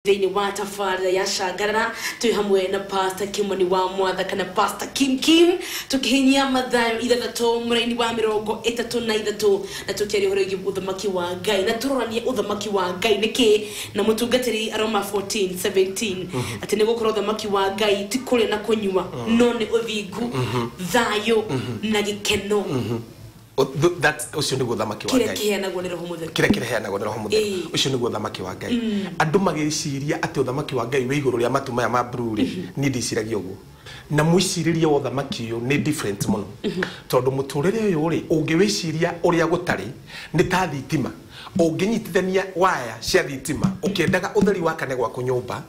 Thĩinĩ wa tabarĩra ya Cangarara, twĩ hamwe na Pastor Kimani wa Mwatha kana Pastor Kim Kim, tũkĩhinyia Mathayo ithathatũ mũraini wa mĩrongo ĩtatũ na ithatũ na tũkĩaria ũhoro wĩgiĩ ũthamaki wa Ngai na tũroranie ũthamaki wa Ngai nĩ kĩ na mũtungatĩri Aroma 14:17 atĩ nĩ gũkorwo ũthamaki wa Ngai ti kũrĩa na kũnyua no nĩ ũthingu, thayũ na gĩkeno. O- th- that's- ũcio nĩguo ũthamaki wa kĩrĩa ngai kĩheanagwo nĩ roho mũtheru kĩrĩa kĩreheanagwo nĩ roho mũtheru Ĩĩ. ũcio nĩguo ũthamaki wa ngai andũ magĩciria atĩ ũthamaki wa ngai wĩ igũrũ rĩa matu maya ma bruu rĩ niĩ ndiciragia ũguo na mwĩcirĩrie wa ũthamaki ũyũ nĩ different mũno tondũ mũtũrĩre ũyũ rĩ ũngĩwĩciria ũrĩa gũtarĩ nĩ ta thitima ũngĩnyitithania waya cia thitima ũkĩendaga ũtheri wakane gwaku nyũmba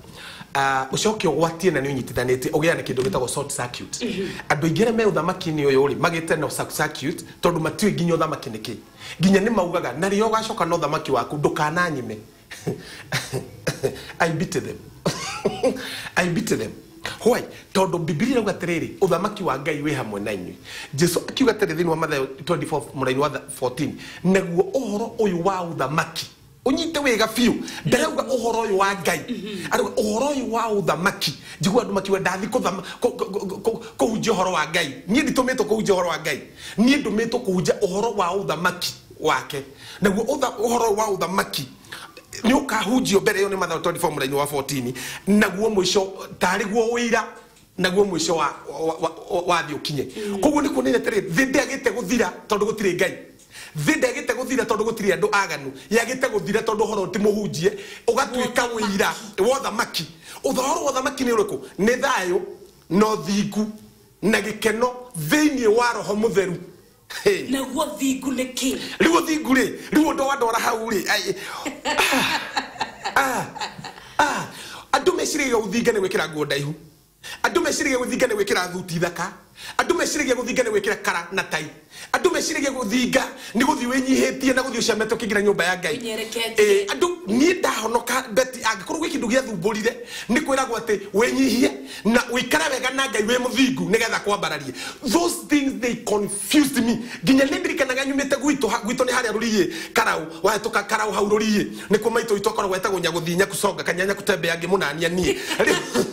Ah, ũcoke ũgwatie na nĩ ũnyitithanĩtie ũgĩa na kĩndũ gĩtagwo short circuit andũ aingĩ arĩa me ũthamaki-inĩ ũyũ rĩ magĩte na short circuit tondũ matiũĩ nginya ũthamaki nĩkĩ nginya nĩ maugaga na rĩrĩa ũgacoka na ũthamaki waku ndũkananyime I beat them I beat them Why? tondũ bibilia irauga atĩrĩrĩ ũthamaki wa ngai wĩ hamwe na inyuĩ jesu akiuga atĩrĩ thĩinĩ wa mathayo 24 mũraini wa 14 naguo ũhoro ũyũ wa ũthamaki unyite wega biũ ndarauga ũhoro ũyũ wa ngai arauga ũhoro ũyũ wa ũthamaki njigua andũ makiuga ndathi kũthama- kũ- kũ- kũ- kũ- kũhunjia ũhoro wa ngai niĩ nditũmĩtwo kũhunjia ũhoro wa ngai niĩ ndũmĩtwo kũhunjia ũhoro wa ũthamaki wake naguo ũtha- ũhoro ũyũ wa ũthamaki nĩ ũkahunjio mbere ĩyo nĩ mathayo 24 mũraini wa 14 naguo mũico tarĩ guo ũira naguo mũico wa- wa- wa- wa- wathi ũkinye koguo nĩ kuonania atĩrĩ thĩ ndĩagĩte gũthira tondũ gũtirĩ ngai Thĩ ndĩagĩte gũthira tondũ gũtirĩ andũ aganu, yagĩte gũthira tondũ ũhoro ti mũhunjie, ũgatuĩka ũira wa ũthamaki. Ũhoro wa ũthamaki nĩ ũrĩkũ? Nĩ thayũ na ũthingu na gĩkeno thĩinĩ wa Roho Mũtheru. Hey. Naguo ũthingu nĩ kĩ? Rĩu ũthingu rĩ, rĩu ũndũ wa ndwara hau rĩ, ai, ah, ah, ah. andũ meciragia ũthinga nĩ gwĩkĩra nguo ndaihu. Andũ meciragia gũthinga nĩ gwĩkĩra thuti thaka. Andũ meciragia gũthinga nĩ gwĩkĩra kara na tai. Andũ meciragia gũthinga nĩ gũthiĩ wĩnyihĩtie na gũthiĩ ũcamete ũkĩingĩra nyũmba ya Ngai. Ũnyereketie. Ĩĩ, andũ, niĩ ndahonoka, Betty, angĩkorwo gwĩ kĩndũ gĩathumbũrire, nĩ kwĩragwo atĩ wĩnyihie na ũikare wega na Ngai wĩ mũthingu nĩgetha akwambararie. Those things they confuse. Excuse me, nginya nĩndirikanaga nyumĩte gwitũ ha- gwitũ nĩ harĩa rũriĩ karaũ wahĩtũka karaũ hau rũriĩ nĩkuo maitũ witũ akoragwo etagwo nyagũthii nyakuconga kanyanya kutembea ngĩmũnania niĩ Rĩu-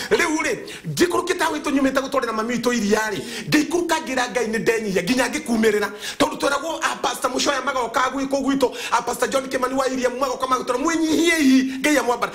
rĩu rĩ njikũrũkĩte hau witũ nyumĩte gũtwarĩra mami witũ iria rĩ ngĩikũrũka ngĩra ngai nĩ ndenyihia nginya ngĩkumĩrĩra tondũ tweragwo apasta mũcoya magoka gwĩkũ gwitũ apasta john kĩmani wa iria magoka magũtwara mwĩnyihie ihi ngai amwambara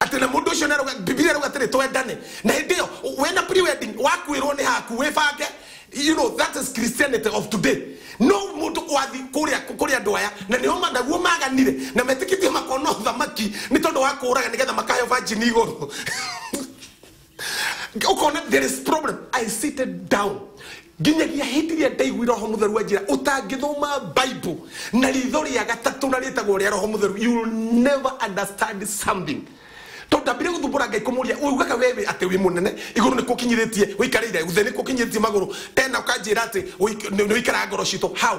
atĩ na mũndũ ũcio nĩarauga- bibilia arauga atĩrĩ twendane na hĩndĩ ĩyo wena pre-wedding wakuĩrwo nĩ haku wĩbange you know that is christianity of today no mũndũ wathi kũrĩa kũrĩ andũ aya na nĩo ma- naguo maganire na metĩkĩtie makona ũthamaki nĩ tondũ wa kũũraga nĩgetha makaheo vanjini igũrũ ukona there is problem i seated down nginyagia hindi ria ndaigui roho mutheru anjira utangithoma bible na ritho ria gatatu na ritagwo ria roho mutheru you will never understand something tondu ndambire guthumbura ngai kumuria ugaga wewe ati wi munene iguru ni kukinyiritie wikarire uthe ni kukinyiritie maguru tena ukanjira ati ni wikara ngoro citå how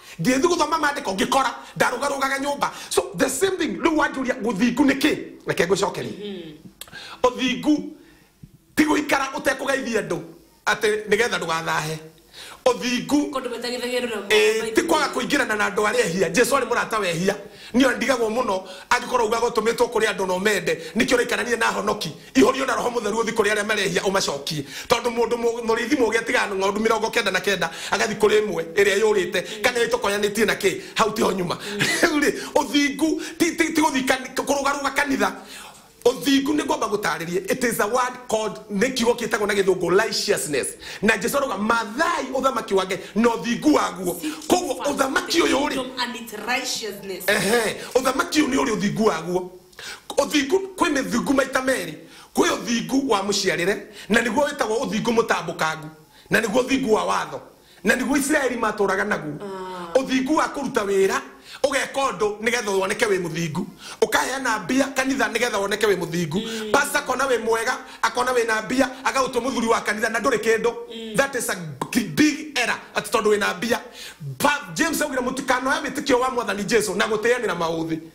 ngĩthiĩ gũthoma mandĩko ngĩkora ndarũgarũgaga nyũmba so the same thing rĩu wanjũria gũthingu nĩ kĩ reke ngũcokerie ũthingu ti gũikara ũtekũgeithia andũ atĩ nĩgetha ndũgathahe ũthingu Kũndũ matagithagia rũramu. Eh, ti kwaga kũingĩrana na andũ arĩa ehia jesu arĩ mũrata wehia niĩ ndigagwo mũno angĩkorwo ugaga ũtũmĩtwo kũrĩ andũ na ũmende nĩkĩo ũraikarania na honoki Ihũrio na Roho Mũtheru ũthi kũrĩ arĩa marehia ũmacokie. Tondũ mũndũ mũrĩithi mũũgĩ atigaga ng'ondu mĩrongo kenda na kenda agathi kũrĩ ĩmwe ĩrĩa yũrĩte, kana ĩtokonyanĩtie na kĩ hau tiho nyuma. Rĩu-rĩ, ũthingu ti ti ti gũthi kũrũgarũga kanitha. Ũthingu nĩ ngwamba gũtaarĩrie, it is a word called, nĩ kiugo kĩtagwo na gĩthũngũ righteousness. Na Jesu arauga, Mathai ũthamaki wa Ngai na ũthingu waguo. Kwoguo ũthamaki ũyũ-rĩ, ehe, ũthamaki ũyũ nĩ ũrĩ ũthingu waguo. Ũthingu kwĩ mĩthingu maita merĩ, kwĩ ũthingu wa mũciarĩre, na nĩguo wĩtagwo ũthingu mũtambũkangu, na nĩguo ũthingu wa watho, na nĩguo Isiraeli maatũũraga naguo. Ũthingu wa kũruta wĩra, ũgeka ũndũ nĩgetha woneke wĩ mũthingu, ũkaheana mbia kanitha nĩgetha woneke wĩ mũthingu. Pastor akona wĩ mwega, akona wĩna mbia, agagũtua mũthuri wa kanitha na ndũrĩ kĩndũ. That is a big error, atĩ tondũ wĩna mbia. Pa- James augire mũtikanoe wĩtĩkio wa Mwathani Jesu na gũtĩanĩra maũthĩ.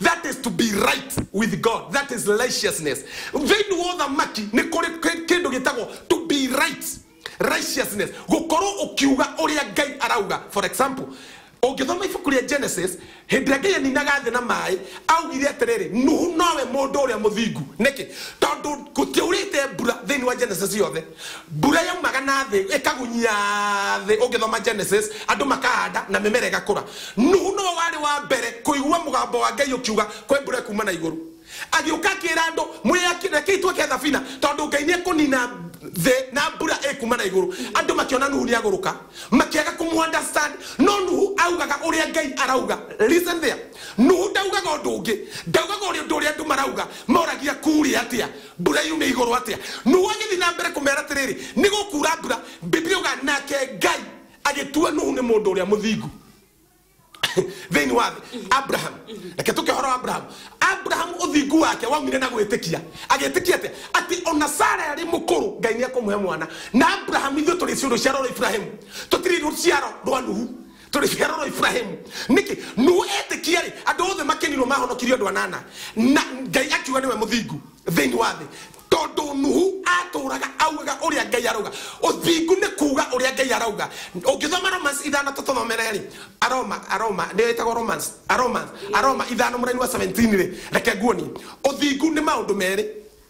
That is to be right with God. That is righteousness. Thĩinĩ wa ũthamaki nĩ kũrĩ kĩ- kĩndũ gĩtagwo to be right. Righteousness. Gũkorwo ũkiuga ũrĩa Ngai arauga. For example, ũngĩthoma ibuku rĩa Genesis, hĩndĩ ĩrĩa Ngai aninaga thĩ na maĩ, augire atĩrĩrĩ, Nuhu nowe mũndũ ũrĩa mũthingu. Nĩkĩ? Tondũ gũtiaurĩte mbura thĩinĩ wa Genesis yothe. Mbura yaumaga na thĩ ĩkagunyia thĩ. Ũngĩthoma Genesis, andũ makahanda na mĩmera ĩgakũra. Nuhu nĩwe warĩ wa mbere kũigua mũgambo wa Ngai ũkiuga, Kwe mbura ĩkuuma na igũrũ. Agĩũka akĩĩra andũ, Mwĩyakĩre, rekei twake thabina, tondũ Ngai nĩ ekũniina thĩ na mbura ĩkuuma na igũrũ. Andũ makĩona Nuhu nĩ agũrũka, makĩaga kũmũ understand. No Nuhu augaga ũrĩa Ngai arauga. Listen there. Nuhu ndaugaga ũndũ ũngĩ. Ndaugaga ũrĩa ũndũ ũrĩa andũ marauga moragia kuurĩ atĩa. Mbura yume igũrũ atĩa? Nuhu agĩthiĩ na mbere kũmeera atĩrĩrĩ, Nĩ gũkuura mbura. Bibilia yugaga, Nake Ngai agĩtua Nuhu nĩ mũndũ ũrĩa mũthingu thĩinĩ wa thĩ. Abraham, reke tũke ũhoro wa Abraham. Abraham ũthingu wake waumire na gwĩtĩkia. Agĩtĩkia atĩa? Atĩ ona Sara arĩ mũkũrũ, Ngai nĩ ekũmũhe mwana. Na Abraham, ithuĩ tũrĩ ciũrũ cia rũrũ Ibrahimu, tũtirĩ rũciaro rwa Nuhu. tũrĩ ciaro rwa iburahimu nĩkĩ nũ etĩkia rĩ andũ othe makenirwo mahonokirio andũ anana na ngai akiuga nĩwe mũthingu thĩinĩ wa thĩ tondũ nuhu atũraga augaga ũrĩa ngai arauga ũthingu nĩ kuuga ũrĩa ngai arauga ũngĩthoma romans ithano tũtũthomere rĩ aroma aroma nĩ ĩtagwo romans aroma aroma ithano mũraini wa 17 rĩ reke nguonie ũthingu nĩ maũndũ merĩ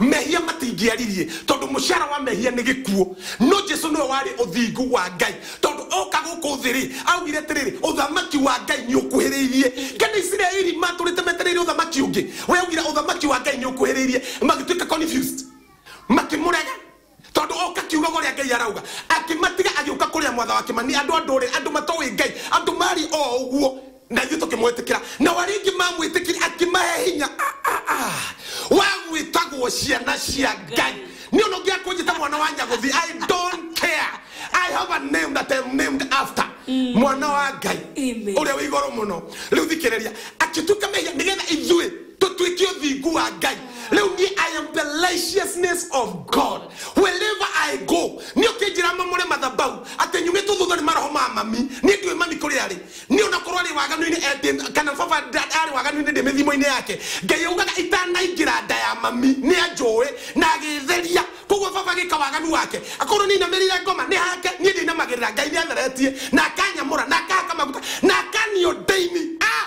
mehia matingĩaririe tondũ mũcara wa mehia nĩ gĩkuo no jesu nĩwe warĩ ũthingu wa ngai tondũ oka gũkũ thĩ rĩ augire atĩrĩrĩ ũthamaki wa ngai nĩ ũkuhĩrĩirie kana isiraeli matũrĩte metereire ũthamaki ũngĩ we augire ũthamaki wa ngai nĩ ũkuhĩrĩirie magĩtuĩka confused makĩmũrega Tondũ ũka kiugaga ũrĩa Ngai arauga. Akĩmatiga agĩũka kũrĩa mwatha wa Kĩmani. Andũ a ndũrĩrĩ, andũ matoĩ Ngai, andũ maariĩ o ũguo na ithuĩ tũkĩmwĩtĩkĩra. Nao arĩa aingĩ maamwĩtĩkirie akĩmahe hinya wa gwĩtagwo ciana cia Ngai. Niĩ ona ũngĩaga kũnjĩta mwana wa Nyagũthi, I don't care. I have a name that I'm named after. Mwana wa Ngai, Amen. ũrĩa wĩ igũrũ mũno. Rĩu thikĩrĩria. Akĩtuĩka mehia nĩgetha ithuĩ. tũtuĩke ũthingu wa ngai rĩu niĩ i am the righteousness of god wherever i go nĩ ũkĩnjĩra mamũre mathabau atĩ nyumĩtwo thutha nĩ maroho ma mami niĩ ndiũĩ mami kũrĩ arĩ niĩ onakorwo arĩ waganu-inĩ eh, ndĩ- kana baba nda- arĩ waganu-inĩ ndĩ mĩthimo-inĩ yake ngai augaga itanaingĩra nda ya mami nĩ anjũĩ na agĩtheria koguo baba gĩka waganu wake akorwo nĩ inamĩrĩire ngoma nĩ hake niĩ ndĩinamagĩrĩra ngai nĩ atheretie na akanyamũra na akahaka maguta na akaniũndaini ah!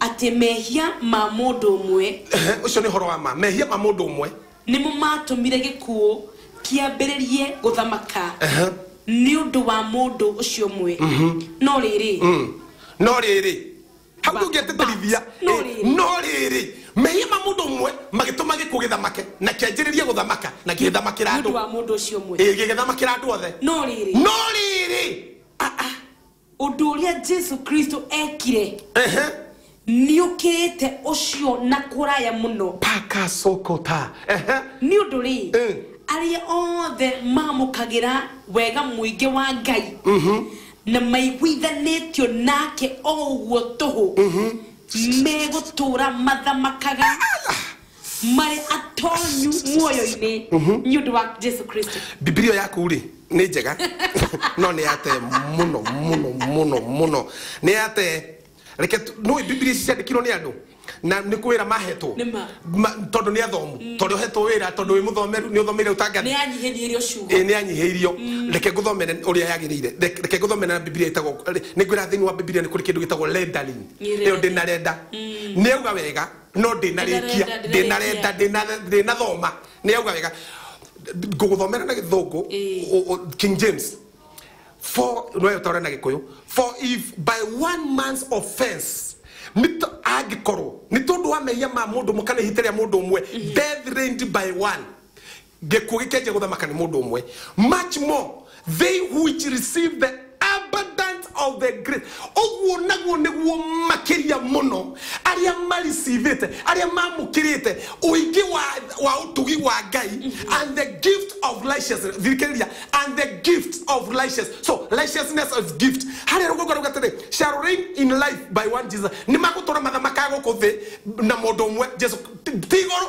Atĩ mehia ma mũndũ ũmwe. Ehe, ũcio nĩ ũhoro wa ma. Mehia ma mũndũ ũmwe. Nĩmo maatũmire gĩkuũ kĩambĩrĩrie gũthamaka. Ehe. Nĩ ũndũ wa mũndũ ũcio ũmwe. No rĩrĩ. No rĩrĩ. Hau ndũngĩatĩtĩrithia. No rĩrĩ. No rĩrĩ. Mehia ma mũndũ ũmwe magĩtũma gĩkuũ gĩthamake na kĩanjĩrĩrie gũthamaka na gĩgĩthamakĩra andũ. Nĩ ũndũ wa mũndũ ũcio ũmwe. Ĩĩ, gĩgĩthamakĩra andũ othe. No rĩrĩ. No rĩrĩ. Aa. ũndũ ũrĩa jesu kristo ekire Ehe. nĩũkĩrĩte ũcio na kũraya mũno paka sokota Ehe. nĩ ũndũ rĩ Eh. arĩa othe mamũkagĩra wega mũingĩ wa ngai na maiguithanĩtio nake o ũguo tũhũ megũtũũra mathamakaga marĩ atonyu muoyo-inĩ nĩ ũndũ wa jesu kristo bibilia yaku rĩ nĩ njega no nĩ yate mũno mũno mũno mũno nĩ yate reke tu- nĩũĩ bibilia ici ciandĩkirwo nĩ andũ na nĩ kwĩra mahetwo Nĩ ma. Ma- tondũ nĩ athomu tondũ hetwo wĩra tondũ wĩ mũthomeru nĩ ũthomeire nĩ ũtangathi yanyihĩnyihirio ciugo ĩĩ nĩ anyihĩirio reke ngũthomere ũrĩa yagĩrĩire Reke- reke ngũthomere na bibilia ĩtagwo nĩ ngwĩra thĩinĩ wa bibilia nĩ kũrĩ kĩndũ gĩtagwo rendering Nĩ ĩyo ndĩ na renda nĩ auga wega no ndinarikia ndinarenda ndinathoma ni auga wega nguguthomera na githungu king james for no utore na gikuyu for if by one man's offense nito angikorwo ni tondu wa mehia ma mundu mukana ihite ria mundu umwe death reigned by one Gĩkuũ gĩkĩanjia gũthamaka nĩ mũndũ ũmwe. Much more they which receive the abundance of the grace. Ũguo naguo nĩguo makĩria mũno arĩa maricivĩte, arĩa mamũkĩrĩte ũingĩ wa, wa ũtugi wa Ngai and the gift of righteousness. Thikĩrĩria, and the gift of righteousness. So righteousness is gift. Harĩa rũgongo rũga atĩrĩ, shall reign in life by one Jesus. Nĩ magũtũra mathamakaga gũkũ thĩ na mũndũ ũmwe Jesu. Ti igũrũ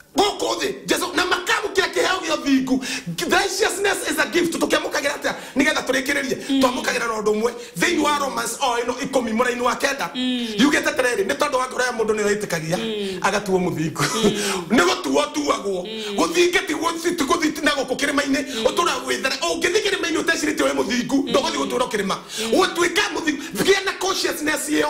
gũkũ thĩ jesu na makamũkĩra kĩheo gĩa ũthingu righteousness is a gift tũkĩamũkagĩra atĩa nĩgetha tũrĩkĩrĩrie twamũkagĩra na ũndũ ũmwe thĩinĩ wa romans o ĩno ikũmi mũraini wa kenda yugĩte atĩrĩrĩ nĩ tondũ wa ngoro ya mũndũ nĩyo ĩtĩkagia agatuo mũthingu nĩ gũtuo tuagwo gũthinga ti gũthi- ti gũthi na gũkũ kĩrĩma-inĩ ũtũra gwĩthara ũngĩthi kĩrĩma-inĩ ũtecirĩtie wĩ mũthingu ndũgũthi gũtũra kĩrĩma gũtuĩka mũthingu gĩa na consciousness ĩyo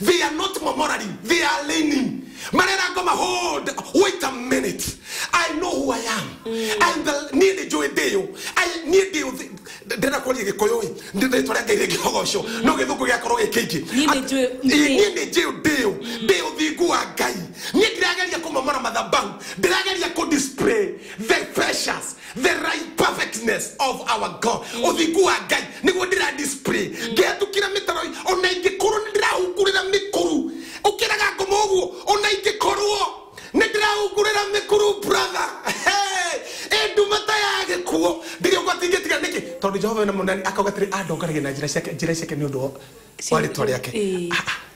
They are not murmuring, they are leaning. Marera ngoma, hold, wait a minute. I know who I am. I'm the niĩ nĩ njũĩ ndĩyo. I niĩ ndĩyo thi- ndĩrenda kwaria gĩkũyũ ĩ nĩ rĩtwa rĩa ngai rĩngĩhogocwo no gĩthũngũ gĩakorwo gĩ kĩingĩ Niĩ nĩ njũĩ Ĩ, ndĩyo. niĩ nĩ njĩũ ndĩyo ndĩ ũthingu wa ngai niĩ ndirageria kũmomora mathabahu ndirageria kũ display the precious the right perfectness of our god ũthingu wa ngai nĩguo ndĩra display ngĩhetũkĩra mĩtaro ona ingĩkorwo nĩ ndĩrahungurĩra mĩkuru ũkĩraga ngoma ũguo ona ingĩkorwo nĩ ndĩrahungurĩra mĩkuru brother Hey! ĩ nduma ta ya gĩkuũ ndĩrĩ ũgwati ingĩtiga nĩkĩ tondũ jehova wena mũnani akauga atĩrĩ andongaragia na njĩra ciake njĩra ciake nĩ ũndũ wa- wa rĩtwa rĩake Ĩĩ. Ah, ah.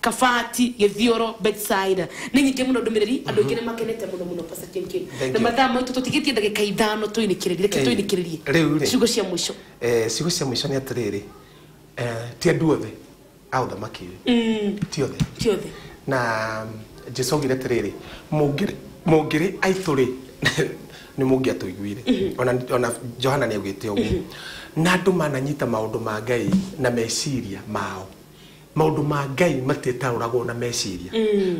Kabati, Gĩthiũrũ, Bethsaida. Nĩ nyingĩ mũno ndũmĩrĩri, andũ aingĩ nĩ makenete mũno mũno Pastor Ken Ken. Thank Na you. mathaa maitũ tũtigĩtie ndagĩka ithano tũinĩkĩrĩrie, reke Ĩĩ. tũinĩkĩrĩrie. Rĩu rĩ. Ciugo cia mũico. Eh, ciugo cia mũico nĩ atĩrĩrĩ eh, ti andũ othe a ũthamaki ũyũ ti othe Ti othe. na jesu augire atĩrĩrĩ "Mũngĩrĩ- mũngĩrĩ aitũ-rĩ nĩ mũngĩatũiguire ona, ona johana nĩ augĩte ũguo na andũ mananyita maũndũ ma ngai na meciria mao maũndũ ma ngai matitaũragwo na meciria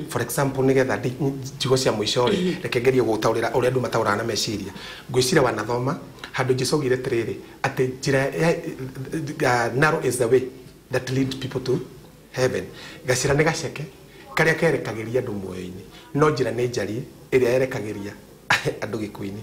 for example nĩgetha ndi- njigo cia mũico rĩ reke ngerie gũtaũrĩra ũrĩa andũ mataũraga na meciria ngwĩciria wanathoma handũ jesu augire atĩrĩrĩ atĩ njĩra ya uh, narrow is the way that lead people to heaven gacĩra nĩ gaceke karĩa kerekagĩria andũ muoyo-inĩ no njĩra nĩ njariĩ ĩrĩa yerekagĩria andũ gĩkuũ-inĩ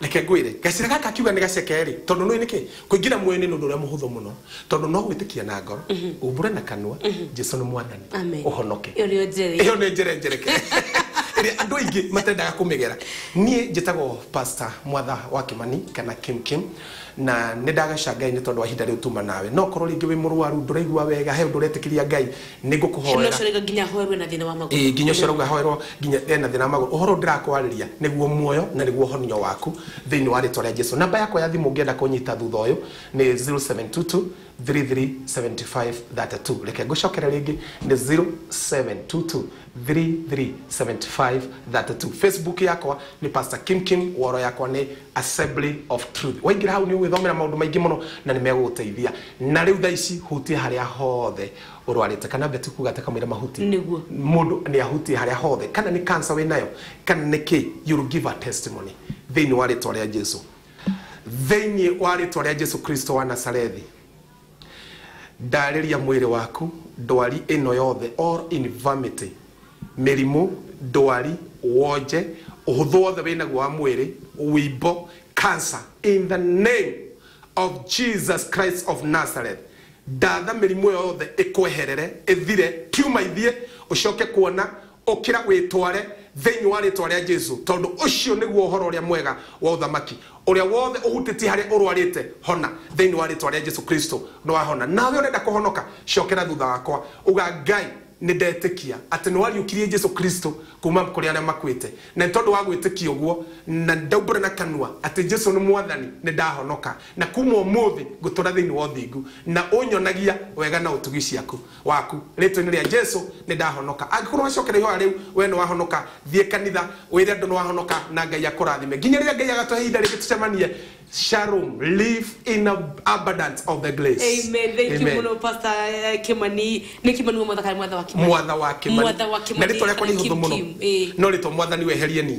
reke ngwĩre gacĩra gaka akiuga nĩ gaceke rĩ tondũ nũĩ nĩkĩ kũingĩra muoyo-inĩ nĩ ũndũ ũrĩa mũhũthũ mũno tondũ no gwĩtĩkia na ngoro umbũre na kanua jesu nĩ mwathani Amen. ũhonoke Ĩyo nĩyo njere. ĩyo nĩ njĩra njereke ĩrĩa andũ aingĩ matendaga kũmĩgera niĩ njĩtagwo pastor mwatha wa kĩmani kana kim kim na nĩ ndagaca ngai nĩ tondũ wa ihinda rĩu tuma nawe no korwo rĩngĩ wĩ mũrwaru ndũraigua wega he ũndũ ũretĩkĩria ngai Nĩ ngũkũhoera. Kĩmwe ũcorega nginya ahoerwe na thĩna wa magũrũ. Ĩĩ, nginya ũcorega ahoerwo nginya e na thĩna wa magũrũ. Ũhoro ndĩrakwarĩria nĩguo muoyo na nĩguo ũhonio waku thĩinĩ wa rĩtwa rĩa Jesu. Namba yakwa ya thimũ ũngĩenda kũnyita thutha ũyũ nĩ 0722337532. Reke ngũcokere rĩngĩ nĩ 0722337532. Facebook yakwa nĩ Pastor Kim Kim, wall yakwa nĩ Assembly of Truth. Waingĩra hau nĩ ũgwĩthomera maũndũ maingĩ mũno na nĩ megũgũteithia. Na rĩu thaa ici hutia harĩa hothe ũrwarĩte kana mbeti kuga ate kamũira mahuti Nĩguo. mũndũ nĩ ahutie harĩa hothe kana nĩ cancer wĩ nayo kana nĩ kĩ you will give a testimony thĩinĩ wa rĩtwa rĩa Jesu thĩinĩ wa rĩtwa rĩa Jesu Kristo wa Nazarethi ndarĩria mwĩrĩ waku ndwari ĩno yothe all infirmity mĩrimũ ndwari wonje ũhũthũ wothe wĩ naguo wa mwĩrĩ wimbo cancer in the name of Jesus Christ of Nazareth Ndatha mĩrimũ ĩyo yothe ĩkweherere, ĩthire, tiuma ithiĩ, ũcoke kuona, ũkĩra wĩtware thĩinĩ wa rĩĩtwa rĩa Jesu, tondũ ũcio nĩguo ũhoro ũrĩa mwega wa Ũthamaki. Ũrĩa wothe ũhutĩtie harĩa ũrwarĩte, hona, thĩinĩ wa rĩĩtwa rĩa Jesu Kristo. Nĩ wahona. Nawe ũrenda kũhonoka? Cokera thutha wakwa. Uga, Ngai, nĩ ndetĩkia atĩ nĩ wariũkirie Jesu Kristo kuuma kũrĩ arĩa makuĩte. Na nĩ tondũ wa gwĩtĩkia ũguo, na ndaumbũra na kanua atĩ Jesu nĩ Mwathani, nĩ ndahonoka. Na kuuma ũmũthĩ ngũtũũra thĩinĩ wa ũthingu, na ũnyonagia wega na ũtugi ciaku, waku. Rĩĩtwa-inĩ rĩa Jesu nĩ ndahonoka. Angĩkorũo wacokera ihoya rĩu, wee nĩ wahonoka. Thiĩ kanitha, wĩre andũ nĩ wahonoka, na Ngai akũrathime. Nginya rĩrĩa Ngai agatũhe ihinda rĩngĩ tũcemanie, shalom, live in a abundance of the grace. Amen. Thank you Amen. mũno Pastor eh, Kimani. Nĩ Kimani wa Mwatha kana Mwatha wa Kimani? mwatha wa Kimani. Mwatha wa na Kimani rĩtwa rĩakwa nĩ kana ihũthũ Kim mũno Kim. Ĩĩ. no rĩtwa mwathani weherie ni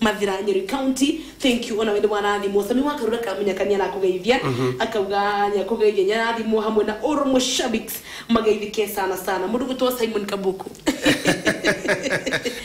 Mathira Nyeri county thank you ona we nĩ warathimwo Sami wa Karura ka Munyaka nĩ arakũgeithia akauga nĩ akũgeithia nĩ arathimwo hamwe na Oro Mushabix mageithike sana sana mũndũ gwĩtwo Simon Kabuku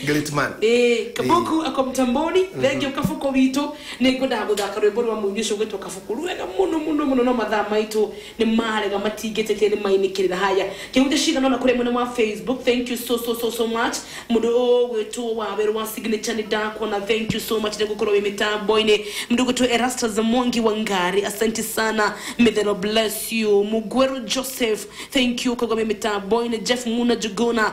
Great man. Eh, kabuku ako mtamboni thengio kabuku witũ nĩ ngwendaga gũthaka rwĩmbo rwa mũini ũcio gwĩtwo kabuku rwega mũno mũno mũno no mathaa maitũ Nĩmarega matingĩtĩkia nĩmainĩkĩrĩra haya kĩhunjia cigana ũna kũrĩ mwena wa Facebook thank you so so so so much mũndũ ũgwĩtwo Wawerũ wa signature nĩndakuona thank you so much nĩgũkorwo wĩ mĩtambo-inĩ mũndũ ũgwĩtwo Erastus Mwangi wa Ngari asante sana may the Lord bless you Mugweru Joseph thank you kũgwa wĩ mĩtambo-inĩ Jeff Muna Juguna